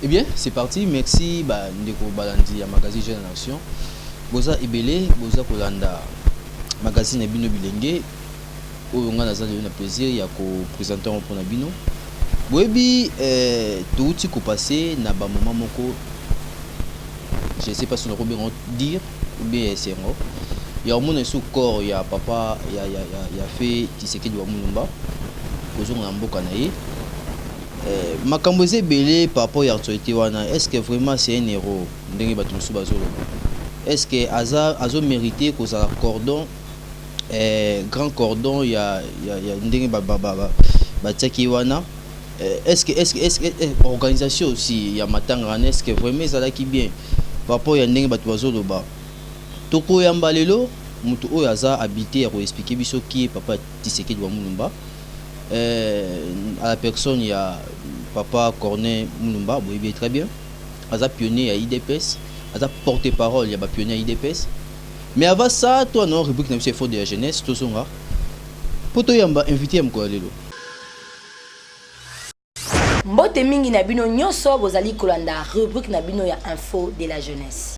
Eh bien, c'est parti. Merci ba ndeko balandi ya magazine Jeune Nation. Boza ebele, boza kolanda magazine ya bino bilenge oyo ngai naza lelo na plaisir ya ko présenter yango mpona bino. Boyebi eh, touti kopase na ba moment moko je sais pas si nakoki bengo dire ou bien esengo ya komona lisusu corps ya papa ya, ya, ya, ya fe Tshisekedi wa Mulumba kozonga na mboka na ye Eh, makambo eza ebele par rapport ya actualité wana est ce que vraiment c'est un héros ndenge bato mosusu bazoloba est ce que aza azo mérite kozala cordon eh, grand cordon ya, ya, ya ndenge batiaki ba, ba, ba, batiaki ye wana eh, est ce que, est ce que, est ce que eh, organisation aussi ya matanga wana est ce que vraiment ezalaki bien par rapport ya ndenge bato bazoloba tokoyamba lelo moto oyo aza habité ya koexplike biso ki ye papa tisekedi wa mulumba eh, à la personne ya papa Corneille Mulumba, boyebi très bien, aza pionnier ya IDPS, aza porte-parole ya ba pionniers ya IDPS. Mais avant ça, toi non rubrique na biso effort de la jeunesse, tozonga po toyamba invité ya mokolo lelo. Mbote mingi na bino nyonso bozali kolanda rubrique na bino ya info de la jeunesse.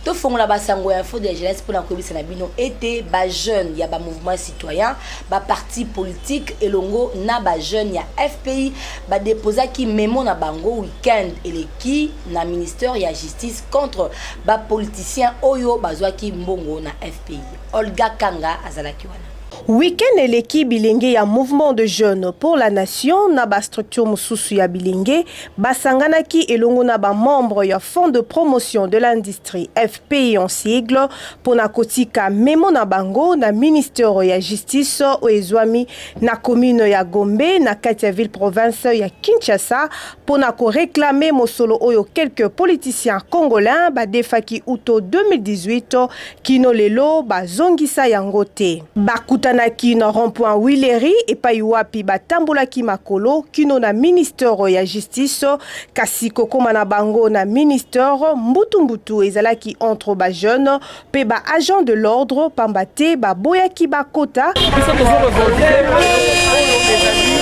tofongola basango ya fode ya jeunesse mpo na koyebisa na bino ete bajeune ya bamouvement citoyen baparti politique elongo na bajeune ya fpi badeposaki memo na bango week-end eleki na ministère ya justice contre bapoliticien oyo bazwaki mbongo na fpi olga kanga azalaki wana Week-end eleki bilenge ya Mouvement de Jeunes pour la Nation na ba structure mosusu ya bilenge basanganaki elongo na ba membres ya Fonds de promotion de l'industrie FPI en sigle mpo na kotika memo na bango na ministère ya justice oyo ezwami na commune ya Gombe na kati ya ville province ya Kinshasa mpo na ko reclamer mosolo oyo quelques politiciens congolais badefaki uto 2018 Kino lelo bazongisa yango te. Bakutanaki na rond-point Huilerie epai wapi batambolaki makolo kino na ministere ya Justice kasi kokoma na bango na ministere mbutu mbutu ezalaki entre ba jeunes mpe ba agents de l'ordre pamba te baboyaki bakota. Biso tozo revolte oyo ezali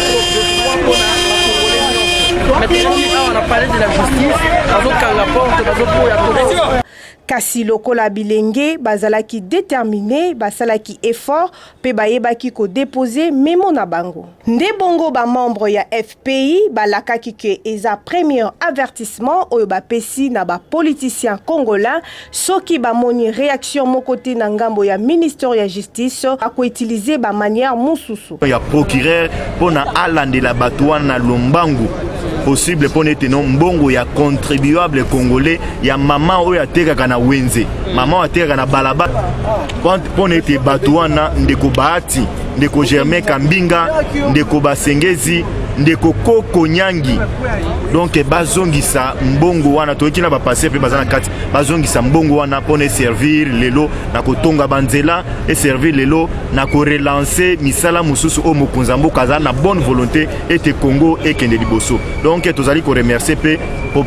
mais tokomi awa na palais de la justice bazokanga porte bazoboya Kasi lokola bilenge bazalaki determine, basalaki effort mpe bayebaki ko deposer memo na bango. Nde bongo ba membres ya FPI balakaki que eza premier avertissement oyo bapesi na ba politiciens congolais, soki bamoni reaction moko te na ngambo ya Minister ya Justice, bako utiliser ba manières mosusu. ya procureur mpo na alandela bato wana lombangu possible mpo na ete no mbongo ya contribuable congolais ya mama oyo atekaka na wenze mama oyo atekaka na balabala mpo na ete bato wana ndeko bahati ndeko germain kambinga ndeko basengezi ndeko koko nyangi donk bazongisa mbongo wana toyoki na bapase mpe baza na kati bazongisa mbongo wana mpo na eservir lelo na kotonga banzela eservir lelo na ko relancer misala mosusu oyo mokonzi ya mboka azali na bonne volonté ete Congo ekende liboso donc tozali ko remercier mpe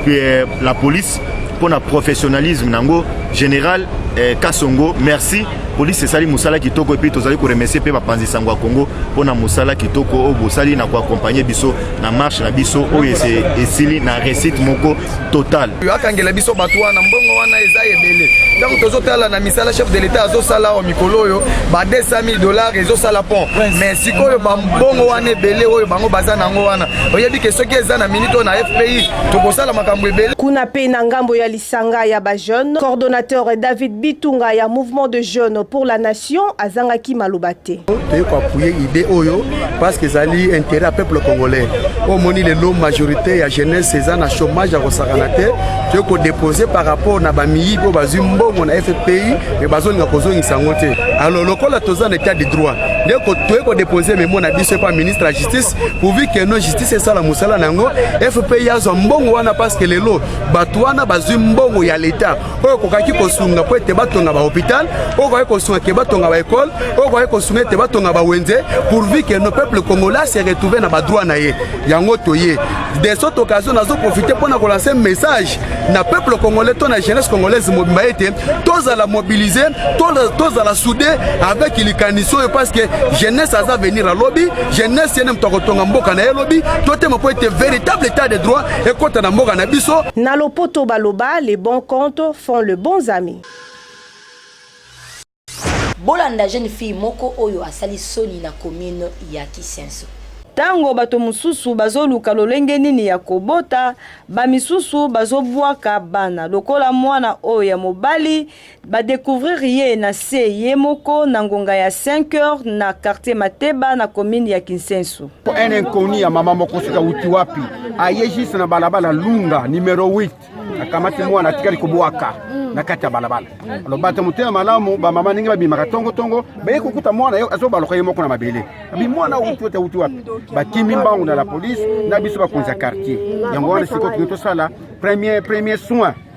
euh, la police mpo na professionnalisme nango général eh, Kasongo merci polisi esali mosala kitoko epuis tozali koremercie mpe bapanzi sango ya kongo mpo na mosala kitoko oyo bosali na koakompagne biso na marche na biso oyo esili na recite moko total yo akangela biso bato wana mbongo wana eza ebele ntango tozotala na misala chef de l'etat azosala awa mikolo oyo ba 200 000 dollars ezosala pont mais sikoyo bambongo wana ebele oyo bango baza na yango wana oyebi ke soki eza na minute oyo na fpi tokosala makambo ebele kuna mpe na ngambo ya lisanga ya bajeune coordonnateur david bitunga ya mouvement de jeune pour la nation azangaki maloba te. Toye ko appuyer idée oyo parce que ezali intérêt ya peuple congolais. Omoni lelo majorité ya jeunesse eza na chômage ya kosakana te. Toye ko déposer par rapport na ba miyibi oyo bazwi mbongo na FPI mais bazolinga kozongisa yango te. Alors lokola toza na état de droit nde toye ko déposer memo na biso epa ministre ya justice pourvu que no justice esala mosala na yango FPI azwa mbongo wana parce que lelo bato wana bazwi mbongo ya l'etat oyo okokaki kosunga mpo ete batonga bahopital oyo okokaki kosunga ke batonga baekole oyo okokaki kosunga ete batonga bawenze pourvu que nos peuple congolais se retrouve na badroit na ye yango toye de cette occasion nazo profite mpo na kolanse message na peuple congolais to na jeunesse congolaise mobimba ete tozala mobilise tozala soude avec likanisi oyo parce que jeunesse aza venir alobi jeunesse yene moto akotonga mboka na ye lobi totema mpo ete véritable état de droit ekota na mboka na biso. Na lopoto baloba les bons comptes font le bons amis. Bolanda jeune fille moko oyo asali soni na commune ya Kisenso. Tango bato mosusu bazoluka lolenge nini ya kobota, bamisusu bazobwaka bana lokola mwana oyo ya mobali Ba decouvrir ye na se ye moko na ngonga ya 5 heures na quartier Mateba na commune ya Kinsensu. Un inconnu ya mama moko sika uti wapi aye juste na balabala Lunga numero 8 akamati mwana atikali kobwaka na kati ya balabala alo bato motema malamu bamama ndenge babimaka tongotongo baye kokuta mwana ye azobaloka ye moko na mabele abi mwana uti ote uti wapi bakimi mbangu na la polise na biso bakonzi ya quartier yango wana sikoyo tolingi tosala premier premier soin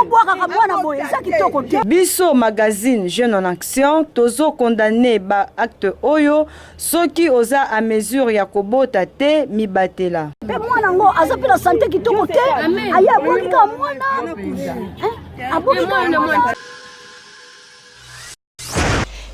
obwakaka mwana boye eza kitoko te biso magazine jeune en action tozo condamne ba acte oyo soki oza a mesure ya kobota te mibatela mpe mwana yango aza mpe na sante kitoko te aye abwakika mwana abwakika mwana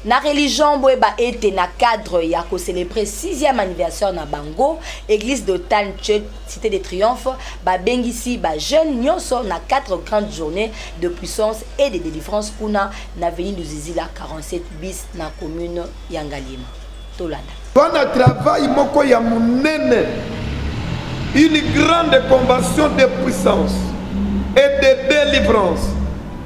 na religion boyeba ete na cadre ya kocelebre 6e anniversaire na bango église d'otan church cité de triomphe babengisi bajeune nyonso na 4 grandes journées de puissance et de délivrance kuna na veni luzizila 47 bis na commune ya ngaliema tolanda wana travail moko ya monene une grande convention de puissance et de délivrance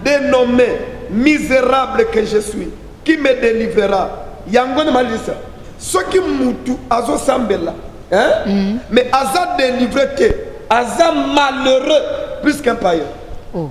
dénommé misérable que je suis qui me délivrera yango na malisa soki mutu azosambela hein? mm -hmm. mais aza délivre te aza malheureux plus qu'un païen oh.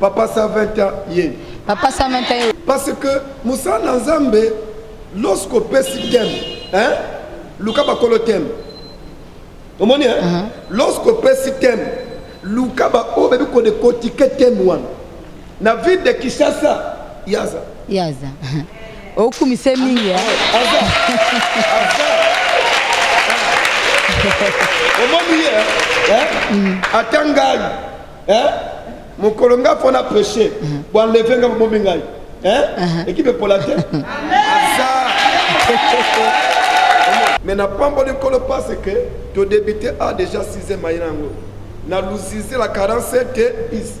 Papa 120 ans ye. Papa 120 ans. Parce que Moussa Nzambe lorsque opesi thème, hein? Luka bakolo thème. Omoni hein? Uh -huh. Lorsque opesi thème, luka ba oyo bebi ko de kotike thème wana. Na ville de Kinshasa, yaza. Yaza. Okumise mingi hein. Aza. Aza. Omoni hein? Hein? Mm. Atangani. eh mokolo nga fona prêcher mhm. bo enlever nga bomi ngai eh uh-huh. ekipe pola te aza mais na pamboli nkolo parce que to débuter a déjà 6 mai yango na luzizi la 47 bis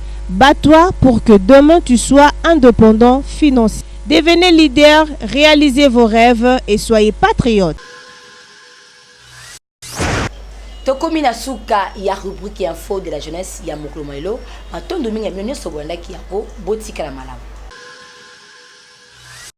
Bat toi pour que demain tu sois independant financ. Devenez leader, realisez vos reves et soyez patriote. tokomi na suka ya rubrique ya info de la jeunesse ya mokolo mwa lelo matondo mingi ya bino nyonso bolandaki yango botikala malamu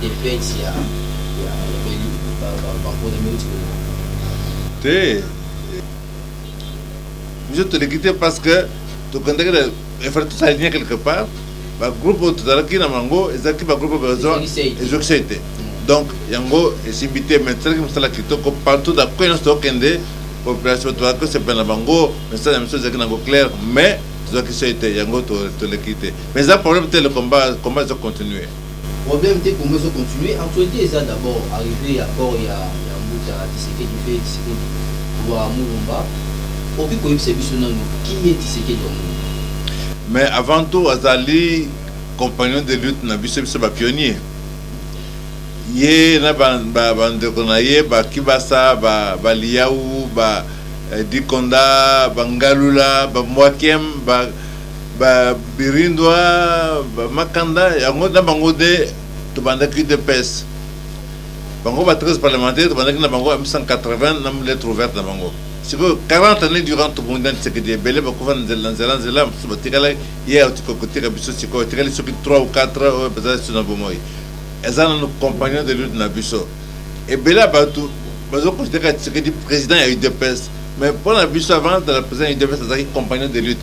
defense ya ya beli ba ba ba pona minute ko te biso toleki te parce que tokendaki na efale tosalinye quelque part bagroupe oyo tozalaki na bango ezalaki bagroupe besoin ezokisai te donc yango esimbi te mais tosalaki mosala kitoko partout na koi nyonso tokende population tozalaki kosepela na bango message ya miso ezalaki nango claire mais tozwaki soi te yango toleki te Mais eza problème te le combat combat ezo continuer. Problème te combat ezo continuer actualite eza d'abord arrivee ya corps ya ya mbuta Tshisekedi pe Tshisekedi wa Mulumba okoki koyebisa biso nanu qui est Tshisekedi wa Mulumba? Mais avant tout azali compagnon de lutte na biso biso ba pionniers ye na ba ba ba ndeko na ye ba Kibasa ba ba Liyawu ba eh, Dikonda ba Ngalula ba Mwakem ba ba birindwa ba makanda yango na bango de tobandaki udps bango ba 13 parlementaire tobandaki na bango ya 1980 na lettre ouverte na bango sikoyo 40 année durant tobongi na tisekedi ebele bakufa na nzela nzela nzela mosusu batikala ye kotika biso sikoyo etikali soki 3 ou 4 oyo baza su na bomoi eza nano compagnon de lutte na biso ebele ya bato bazokonsidere tisekedi président ya udps mais mpo na biso avant de la président ya udps azalaki compagnon de lutte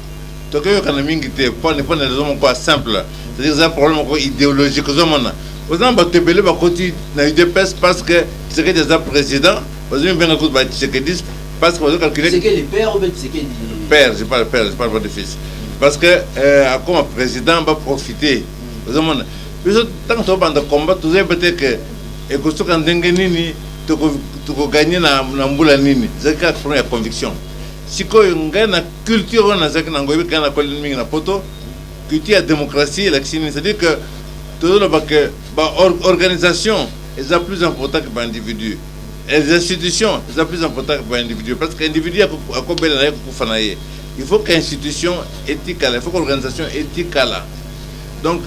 toke yokana mingi te pone pone raison moko ya simple c'est-à-dire eza problème moko idéologique ozomona oza na bato ebele bakoti na udps parce que tshisekedi aza président bazomi benga kutu ba tshisekediste parce que bazocalcule père je parle père je parle pas de fils parce que euh, akoma président baprofite ozomona biso ntango tobanda combat tozoyeba te ke ekosuka ndenge nini tokoganye na mbula nini ezalaki kaka problème ya conviction sikoyo ngai na Culture wana nazalaki nango ebi kaka na koleli mingi na poto culture ya démocratie elakisi nini c'est-à-dire que tozoloba que ba organisation eza plus important que ba individu les institutions eza plus important que ba individu parce que individu akobela na ye kokufa na ye il faut que institution etikala il faut que organisation etikala donc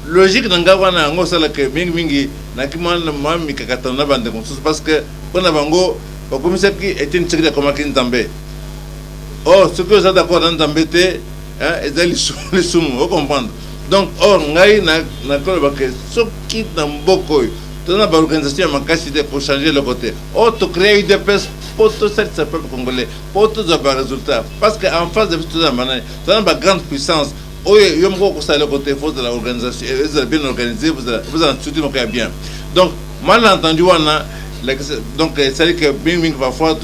logique na ngai wana yango osalaka mingi mingi naki mwa mikakatano na bandeko mosusu parce que mpo na bango bakomisaki etienne tshisekedi akomaki nzambe or soki oza d'accord na nzambe te eh, eza lisumu ocomprendre donc or ngai nakoloba ke soki na mboka oyo toza na baorganisation ya makasi te kochange eloko te or tocrea udps mpo tosalisa peuple congolais mpo tozwa baresultat parce que en face de biso toza na banani toza na bagrande puissance oyo yo moko okosala eloko te fo ozala organisation eh, ezala bien organisé bozala structure moko ya bien donc malentendu wana donc esali ke mingimingi parfois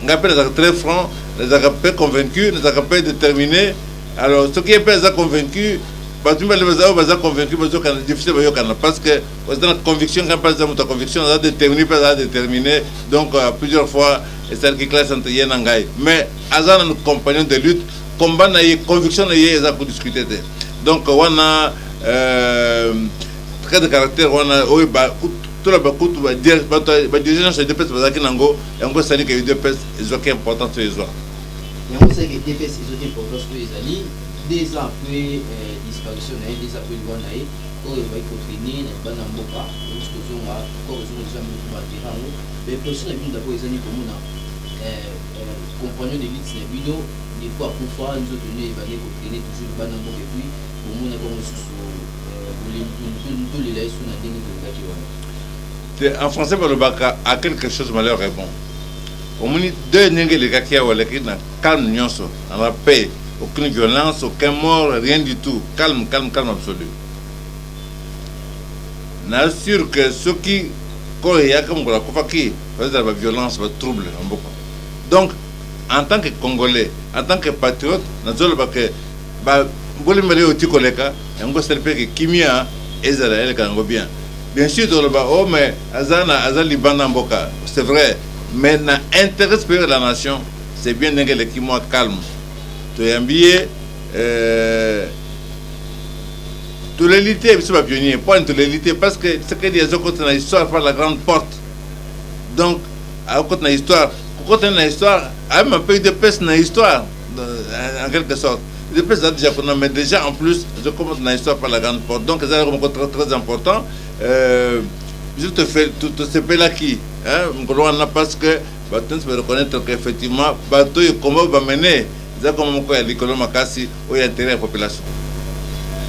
Ngai mpe nazalaka très franc, nazalaka mpe convaincu, nazalaka mpe determine. Alors soki ye mpe aza convaincu, bato mibale baza oyo baza convaincu bazokana difficile bayokana parce que oza na conviction ngai mpe aza moto ya conviction aza determine mpe aza determine donc euh, plusieurs fois esalaki classe entre ye na ngai mais aza na compagnon de lutte combat na ye conviction na ye eza kodiscute te donc wana euh, trait de caractère wana oyo toloba kutu badirigé nyonso ya dps bazalaki nango Yango esali ke udps ezwaki importance oyo ezwa. Yango esali ke udps ezwaki importance oyo ezali deux ans après euh, disparition na ye, deux ans après liwa na ye oyo ezwaki kotraine na libanda mboka euti kozonga kor ezonga deja motu batera yango baimpression na bino dabord ezali komona euh, euh, compagnon de lutte na bino deko akufa nzoto nde ebandi kotraine toujours libanda mboka epuis bomonaki yango mosusu bolembi tolela ye so na ndenge tolingaki wana Te en français balobaka à quelque chose malheur est bon. Omoni deuil ndenge elekaki awa eleki na calme nyonso na la paix aucune violence aucun mort rien du tout calme calme calme absolu. Na sur que soki corps eyaka mokolo akufaki bazala ba violence ba trouble na mboka. Donc en tant que congolais en tant que patriote nazoloba que ba mbula mibale oyo oti koleka yango esali mpe ke kimia ezala eleka yango bien. Bien sur toloba oh mais aza na aza libanda mboka c'est vrai mais na interet superieur de la nation c'est bien ndenge eleki mwa calme toyambi ye euh, toleli te biso bapionnier mpo ani toleli te parce que sekedi azokota na histoire par la grande porte donc akokota na histoire kokota na histoire ayema mpe udps na histoire Euh, en quelque sorte. Le président déjà qu'on mais déjà en plus, je commence dans l'histoire par la grande porte. Donc, c'est un très, très important. Euh, je te fais tout ce là qui, hein, parce que bato nyonso bareconnaître que effectivement bato oyo kombo bamene eza kombo moko ya likolo makasi oyo ya intérêt ya population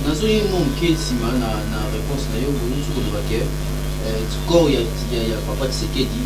nazoyi mwa moke nsima na réponse na yo olingi koloba ke corps ya papa tisekedi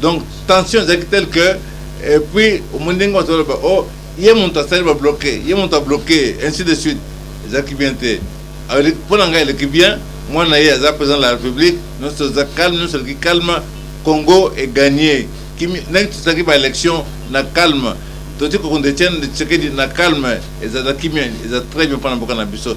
donc tension ezalaki tel que et puis omoni ndenge bato baloba o oh, ye moto asali babloke ye moto abloke ainsi de suite ezalaki bien te mpo na ngai eleki bien mwana ye aza président de la république nyonso eza calme nyonso eleki calme congo eganye ndenge tosalaki baélection na calme toti kokonde etienne tshisekedi na calme ezala kimia eza très bien mpo na mboka na biso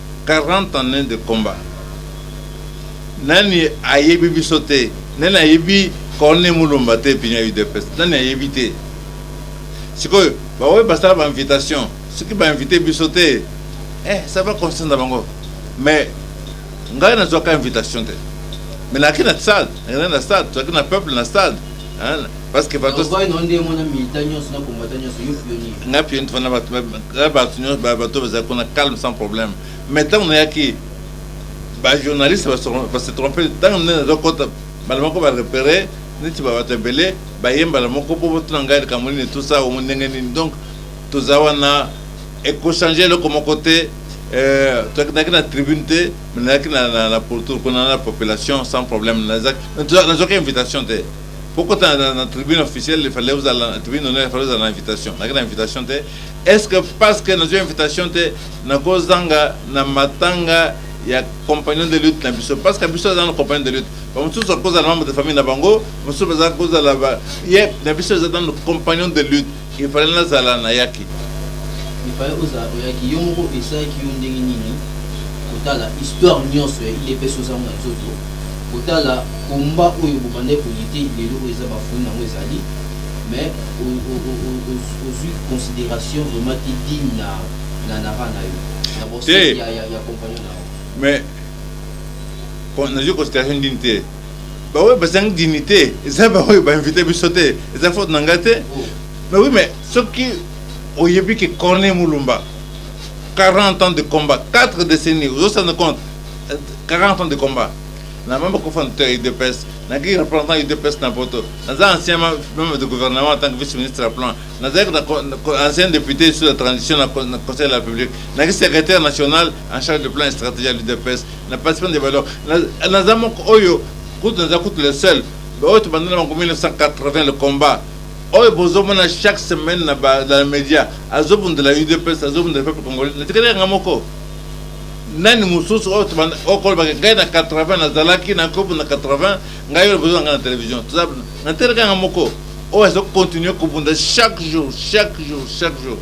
40 annees de combat nani ayebi biso te nani ayebi corne mulumba te pinya udps nani ayebi te sikoyo baoyo basala ba invitation soki ba invite biso te eh ça va concerne bango mais ngai nazwaka invitation te mais naki na stade ngai na stade tozalaki na peuple na stade Hein? parce que bato nga pioni fana bato nyonso bato bazali kuna calme sans problème mais ntango nayaki bajournaliste base trompe ntango nde nazokota mbala moko barepere neti babato ebele baye mbala moko mpo botuna ngai likambo nini tusa omo ndenge nini donc toza wana ekochange eloko moko te euh, tokendaki na tribune te Nazalaki na, na, na pourtour kuna na population sans problème. Nazwaki invitation te kokota na, na tribune officielle, il fallait ozala na tribune honneur, il fallait ozala na invitation. Nazalaki na invitation te. Est ce que parce que nazwi invitation te nakozanga na matanga ya compagnon de lutte na biso parce que biso aza na compagnon de lutte bamosusu akozala membre de famille na bango mosusu baza kozala ye na biso eza nano compagnon de lutte Il fallait nazala nayaki. Il fallait ozala oyaki yo moko esalaki yo ndenge nini kotala histoire nionso ya udps oza ngo na nzoto kotala combat oyo bobandaki ko lutter lelo oyo eza ba fruits nango ezali mais ozwi consideration vraiment te digne na na na bana yo na boseki ya ya compagnon na yo mais nazwi consideration digne te ba oyo bazangi dignité eza ba oyo ba invité biso te eza faute na ngai te mais oui mais soki oyebi ke corne mulumba 40 ans de combat 4 décennies ozosana compte 40 ans de combat na mama kofana te udps naki représentant udps na poto naza ancien membre de gouvernement en tant que vice ministre ya plan nazalaki ancien député sur la transition na conseil de la république naki secrétaire national en charge de plan et stratégie ya l'udps na participant de valeur naza moko oyo kutu naza kutu le seul oyo tobanda na bango 1980 le combat oyo bozomona chaque semaine na bamédia azobundela udps azobundela peuple congolais natikali yanga moko nani mosusu oyo okolobaka ngai na 80 nazalaki na kobo na 80 ngai oyo bozwa ngai na télévision natikali yanga moko oyo azokontinue kobunda chaque jour chaque jour chaque jour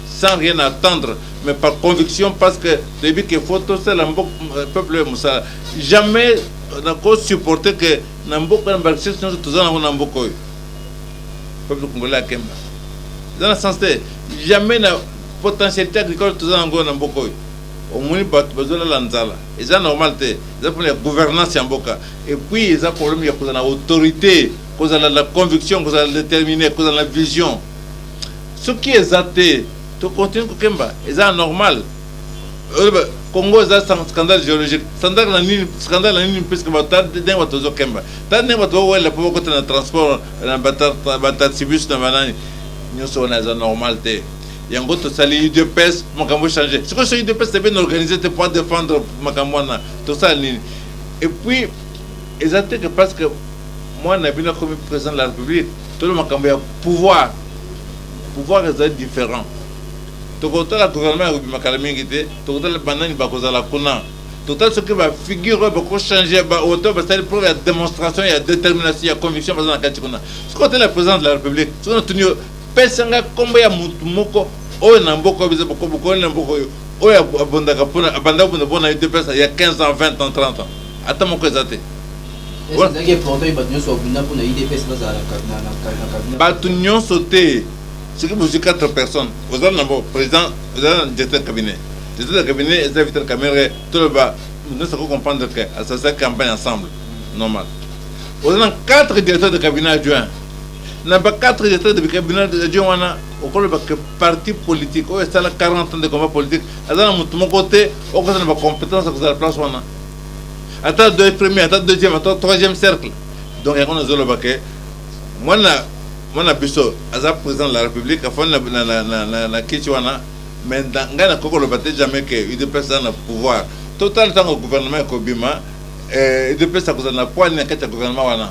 sans rien attendre mais par conviction parce que toyebi que faut tosala mboka euh, peuple oyo mosala jamais euh, nako supporter que na mboka na barecherche nyonso toza nango na mboka oyo peuple congolais akemba eza na sens te jamais na potentialité agricole toza nango na mboka oyo omoni bato bazolala nzala eza normal te eza mpona ya gouvernance ya mboka epuis eza problème ya kozala na autorité kozala na conviction kozala déterminé kozala na vision Soki eza te to continue ko kemba eza normal oyeba Congo eza scandale geologique scandale na nini scandale na nini puisque ba ta ndenge bato bazo kemba ta ndenge bato ba wela po bakota na transport na ba taxibus na banani nyoso wana eza normal te yango tosali udps makambo change sikoyo so udps te bien organise te po défendre makambo wana tosala nini et puis eza te que parce que mwana na bino akomi président de la république Tolo makambo ya pouvoir pouvoir ezali different tokotala gouvernement ekobima kala mingi te tokotala banani bakozala kuna totali soki ba figure oyo bakochange baoto basali preuve ya démonstration ya détermination ya conviction baza na kati kuna soki otala président de la république soki natuni yo pesa ngai nkombo ya motu moko oyo na mboka oyo biza bokobokoli na mboka oyo oyo abondaka mpona abanda kobunda mpona udps ya 15 ans 20 ans 30 ans ata moko eza te Batu nionso te soki bozui 4 personnes oza na president oza na directeur cabinet directeur ya cabinet eza vital kamere toloba nionso ko comprendre que asasa campagne ensemble normal oza na 4 directeur de cabinet adjoint na ba 4 directeur de cabinet adjoint wana okoloba que parti politique oyo esala 40 ans de combat politique aza na motu moko te okozala na ba compétence ya kozala place wana ata doye premier ata deuxième ata troisième cercle donc yango nazoloba ke mwana mwana biso aza président de la république afandi na, na, na, na, na kici wana mais ngai nakoki koloba te jamais ke udps aza na pouvoir totala ntango gouvernement ekobima eh, udps akozala na poids nini na kati ya gouvernement wana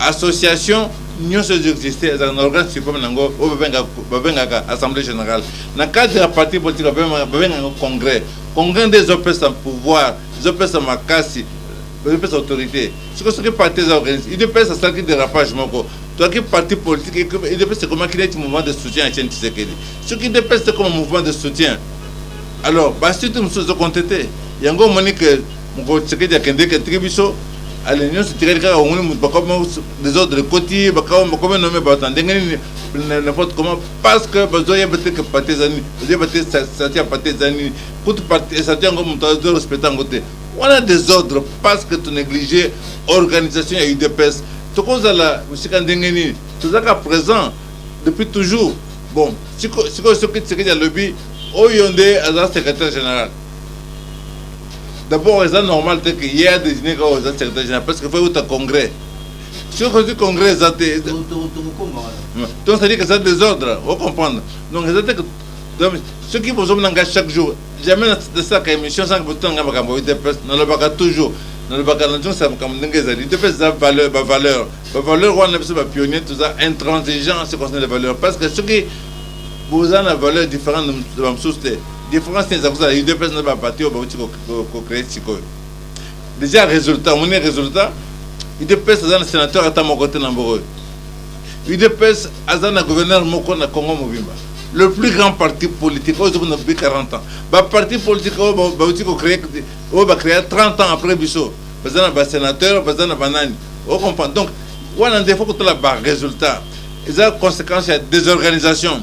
association nyonso ezo existe ezalaka na organe supreme na yango oyo babengaka assemblée générale na cadre ya parti politique babengaka yango congrès congrès nde ezopesa pouvoir ezopesa makasi ezopesa autorité siko soki parti eza organise idps asalaki dérapage moko toyaki parti politique idps ekomaki neti mouvement de soutien ya chene tisekedi soki idps ekoma mouvement de soutien alors basuite mosusu ezokonte te yango omoni ke Mokolo Tshisekedi akendeki atiki biso ale nyonso etikali kaka omoni moto bakoma desordre ekoti bakoma bakoma nome bato na ndenge nini n'importe comment parce que bazoyeba te ke parti eza nini bazoyeba te sati ya parti eza nini kutu parti esati yango moto azo respecte yango te wana desordre parce que to néglige organisation ya udps tokozala mosika ndenge nini tozalaka présent depuis toujours bon sikoyo soki tisekedi alobi oyo nde aza secrétaire général D'abord, eza normal te que ye a désigner kaka oza secrétaire général parce que faut uta congrès. Sur que congrès eza te. Donc c'est dire que eza désordre, vous comprenez. Donc eza te que donc ceux qui bozo nanga chaque jour, jamais de ça ka émission sans que bozo nanga makambo de presse, na lobaka toujours. Na lobaka na tous makambo ndenge eza. De presse eza valeur, ba valeur. Ba valeur wana biso ba pionniers tous intransigeants ce concerne les valeurs parce que ceux qui bozo na valeur différente de la société. Difference nini eza kozala udps na ba parti oyo bauti kocree sikoyo deja resultat omoni resultat udps aza na sénateur ata moko te na mboka oyo udps aza na gouverneur moko na congo mobimba le plus grand parti politique oyo ezokuna bi 40 ans baparti politique oyo bauti kocree oyo bacrea 30 ans après biso baza na basénateur baza na banani ocomprendre donc wana nde fo kotala baresultat eza conséquence ya désorganisation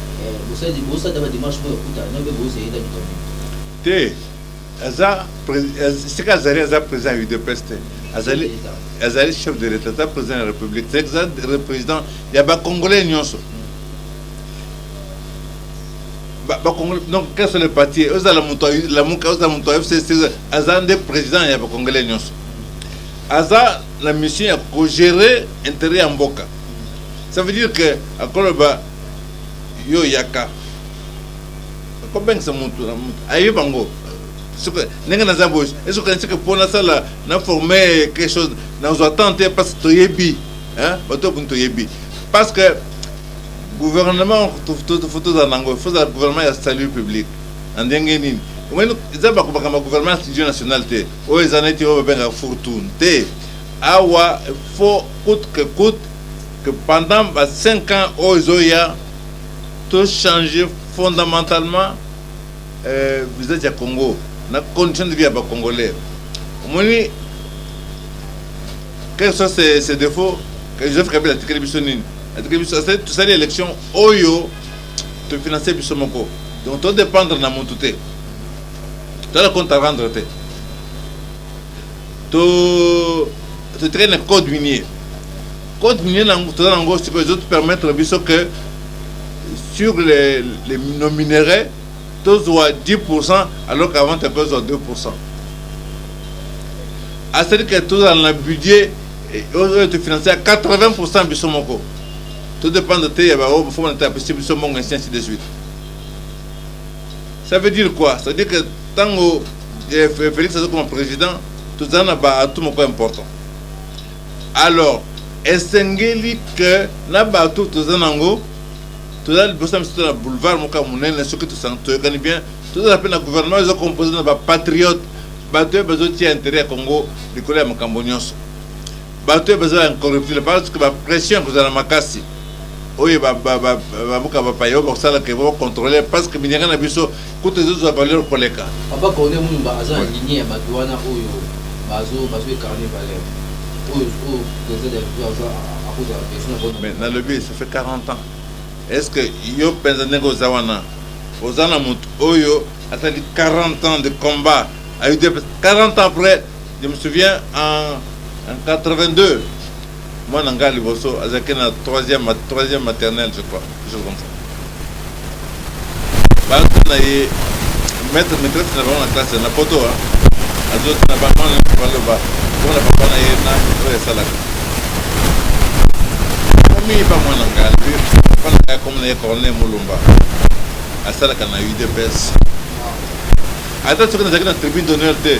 te aza esika azali aza président ya udps te azali azali chef de l'état aza président ya république te aza président ya bacongolais nyonso bacongolais donc quel sont les partis ozala moto lamuka ozala moto ya fcc aza nde président ya bacongolais nyonso aza na mission ya kogérer intérêt ya mboka ça veut dire que akoloba yo yaka kobengisa motu na motu ayebi bango soki ndenge naza boye esoki okanisi ke mpo nasala na forme quelque chose nazwa temps te parce que toyebi bato boni toyebi parce que gouvernement fo tozala nango fo ozala gouvernement ya salut public na ndenge nini omoni eza bakobaka ma gouvernement studio national te oyo eza neti oyo babengaka fortune te awa fo coute que coute que pendant ba cinq ans oyo ezoya to changer fondamentalement euh, visage ya Congo na condition de vie ya ba Congolais omoni quel soit ses, ses défauts que Joseph Kabila atikeli biso nini atikeli biso asali tosali élection oyo tofinanse biso moko donc todépendre na mutu te toza na compte à rendre te to to traîne code minier code minier na toza na ngo sikoyo ezo permettre biso que sur les, les nos minerais tozwa 10 alors qu'avant tu tozwa 2 asali ke tozala na budget eh, oyo tofinance ya 80 biso moko todépendre te ya baoyo bafo banata apesi biso mbongo ainsi ainsi de suite Ça veut dire quoi Ça veut dire que tango eh, Félix aza comme président, tozala na ba atout moko important. Alors, esengeli que na ba atout toza nango, toza liboso na biso na boulevard moko ya monene soki toyokani bien, tozala mpe na gouvernement eza composé na ba patriote, bato oyo bazotia intérêt ya Congo likolo ya makambo nyonso. Bato oyo bazala incorruptible parce que ba pression ekozala makasi oyo babuka bapaya oyo bakosala ke ba controle parce que minyaka na biso kutu ezozwa valeur koleka papa corne mumba aza na ligne ya bato wana oyo bazo bazo ecarne valeur oyo oyo president de la république aza akozala besoin na mais nalobi ça fait 40 ans est ce que yo mpenza ndenge oza wana oza na moto oyo asali 40 ans de combat ayo 40 ans après Je me souviens en, en 82, moi Nanga Liboso, Azaki na 3e, 3e maternelle, je crois, quelque chose comme ça. Bantu na ye, maître maîtresse na bango na classe na poto, azo na bango na baloba, pona papa na ye na oyo esalaka. Komi pa moi Nanga, lui, papa na ngai komi na ye Corneille Mulumba, asalaka na UDPS. Ata soki nazalaki na tribune d'honneur te,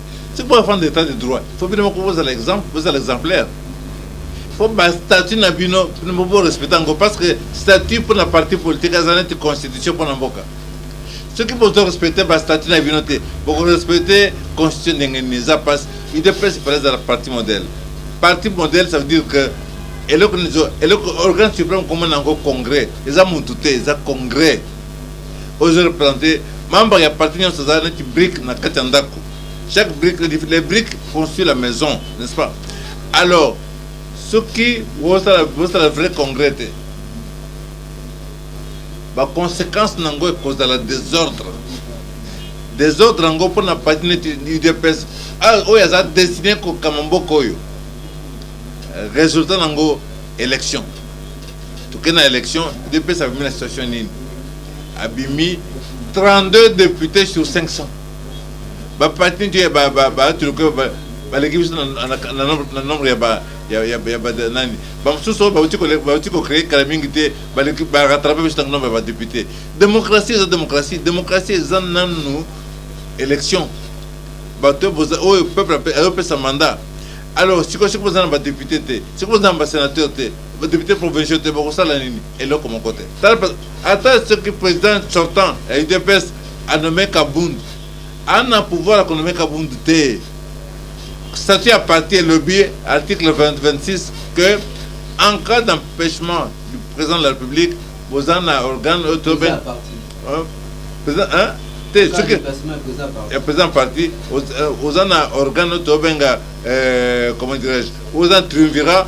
soki mpo afanda etat de droit fo bino moko bozala exemple bozala exemplaire fo bastatut na bino bino moko borespecte yango parce que statut mpo na parti politique aza neti constitution mpo na mboka soki bozo respecte bastatut na bino te bokorespecte constitution ndenge nini eza mpasi idée principale ezala parti modèle parti modèle ça veut dire que eloko eloko organe supreme komona yango congrès eza mutu te eza congrès oyo ezo representer membre ya parti nionso aza neti brique na kati ya ndako chaque brique les briques construit la maison n'est ce pas alors soki bosala bosala vrai congrès te ba conséquence na yango ekozala désordre désordre yango mpo na parti neti udps ah, oyo aza destiné kokama mboka oyo résultat na yango élection tokei na election udps abimi na situation nini abimi 32 députés sur 500 baparti nti batuluka baleki biso na nombre ya nani bamosusu oyo bauti kocreye kala mingi te barattrape biso na nombre ya badepute démocratie eza démocratie démocratie eza nanu élection bato oyo peuple ayopesa mandat alors sikoyo soki boza na badepute te soki boza na basénateur te Ba deputes provinciaux te bakosala nini? Eloko moko te. Tala ata ce que president sortant ya udps a nomme Kabund, ana pouvoir ya ko nomme Kabund te. Statut ya parti elobi article 20, 26 que en cas d'empêchement du président de la République, boza na organe oyo tobe president hein te soki ya président parti oza na organe oyo tobenga comment dirais-je oza triumvirat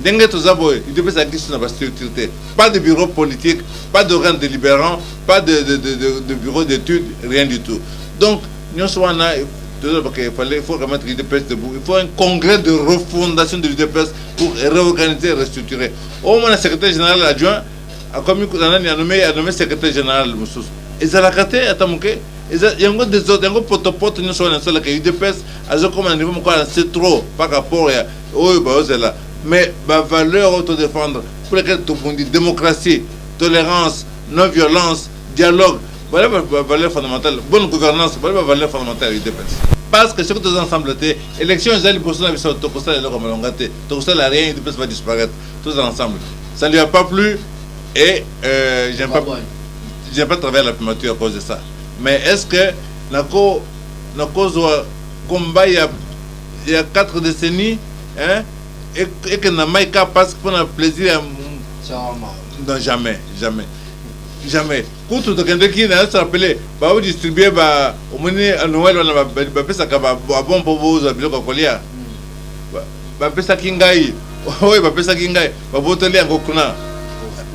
Ndenge toza boye, udps azalaki lisusu na ba structure te, pas de bureau politique, pas d'organe deliberant, pas de, de, de, de, de bureau d'étude, rien du tout. Donc nyonso wana tozolobaka il fallait il faut remettre l'udps debout, il faut un congrès de refondation de l'udps pour réorganiser, restructurer. Au moins le secrétaire général adjoint akomi na nani anome anome secrétaire général mosusu ezalaka te ata moke eza yango desordre yango potopoto nyonso wana esalaka udps azokoma na niveau moko ya se trop par rapport ya oyo bazozela mais ba valeurs oyo to defendre pour lesquelles tobundi democratie tolerance non violence dialogue bale ba valeurs fondamentales bonne gouvernance bale ba valeurs fondamentales ya udps parce que soki toza ensemble te élection eza liboso na biso tokosala eloko malonga te tokosala rien udps va disparaître toza ensemble ça lui a pas plu et euh, j'aime pas j'ai pas travaillé à la primature à cause de ça mais est ce que nako nakozwa combat ya ya 4 decennie hein ekende na mai ka pasi mpo na plaisir ya non jamais jamais jamais kutu tokendeki na se rappele baodistribue ba omoni noel wana bapesaka babon mpo bozwa biloko ya kolia hmm. bapesaki ngai oyo bapesaki ngai babotoli yango kuna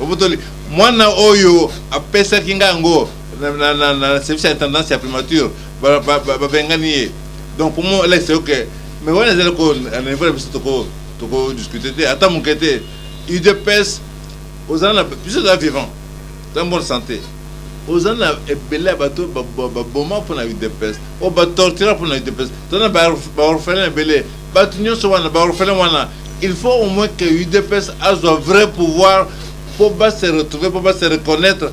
babotoli mwana oyo apesaki ngai yango na service ya intendance ya primature babengani ye donc pour moi elakisa yo ke mais wana ezali ko na niveau na biso toko toko discuter te ata moke te udps ozali na biso eza vivant eza bonne santé ozali na ebele ya bato baboma mpo na udps oyo batortira mpo na udps tozali na baorphelin ebele bato nyonso wana baorphelin wana il faut au moins que udps azwa vrai pouvoir mpo base retrouver mpo base reconnaître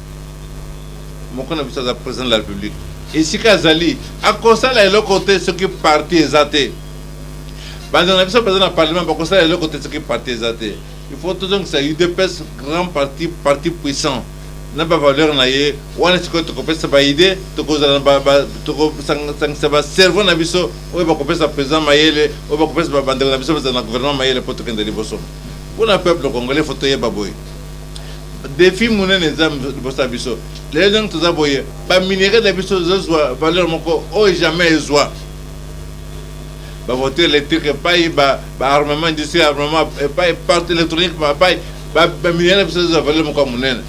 moko na biso aza president de la republique esika azali akosala eloko te soki parti eza te bandeko na biso baza na parlement bakosala eloko te soki parti eza te il faut tozongisa udps grand parti parti puissant na bavaleur na ye wana sikoyo tokopesa baide tokozala tokosangisa bacerveau na biso oyo bakopesa président mayele oyo bakopesa bandeko na biso bazala na gouvernement mayele mpo tokenda liboso mpo na peuple congolais fo toyeba boye defi munene eza liboso ya biso lelo ndenge toza boye baminerie na biso ezozwa valeur moko oyo jamais ezwa bavoiture électrique epai baarmement industrie armement epai parti électronique epai baminerie na biso ezozwa valeur moko ya monene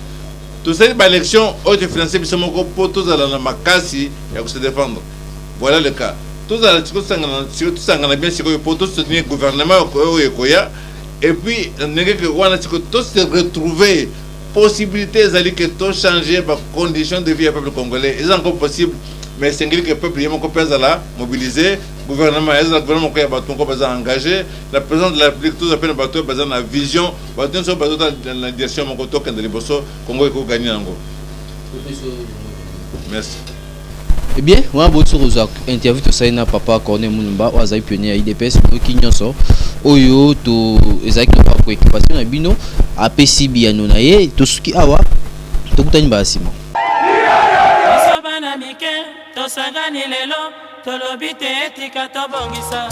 tosali baélection oyo tofinanse biso moko mpo tozala na makasi ya kose défendre voilà le cas tozala tosangana bien sikoyo mpo tosoutenir gouvernement oyo ekoya Et puis ndenge que wana siko to se retrouver possibilité ezali que to changer ba conditions de vie ya peuple congolais eza encore possible mais esengeli que peuple ye moko mpe azala mobiliser gouvernement ezala gouvernement moko ya bato moko baza engagé la présidence de la république toza mpe na bato oyo baza na vision bato nyonso bazota na direction moko tokende liboso congo ekogani yango merci Eh bien, wana bosi kozwa interview tosali na papa Corneille Mulumba oyo azali pionnier ya IDPS oyoki nyonso oyo to ezalaki na bapreoccupation na bino apesi biyano na ye tosuki awa tokutani mbala nsima biso bana mike tosangani lelo tolobi te etika tobongisa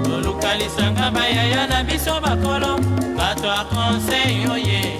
tolukalisanga bayaya na biso bakolo bato ya conseil oye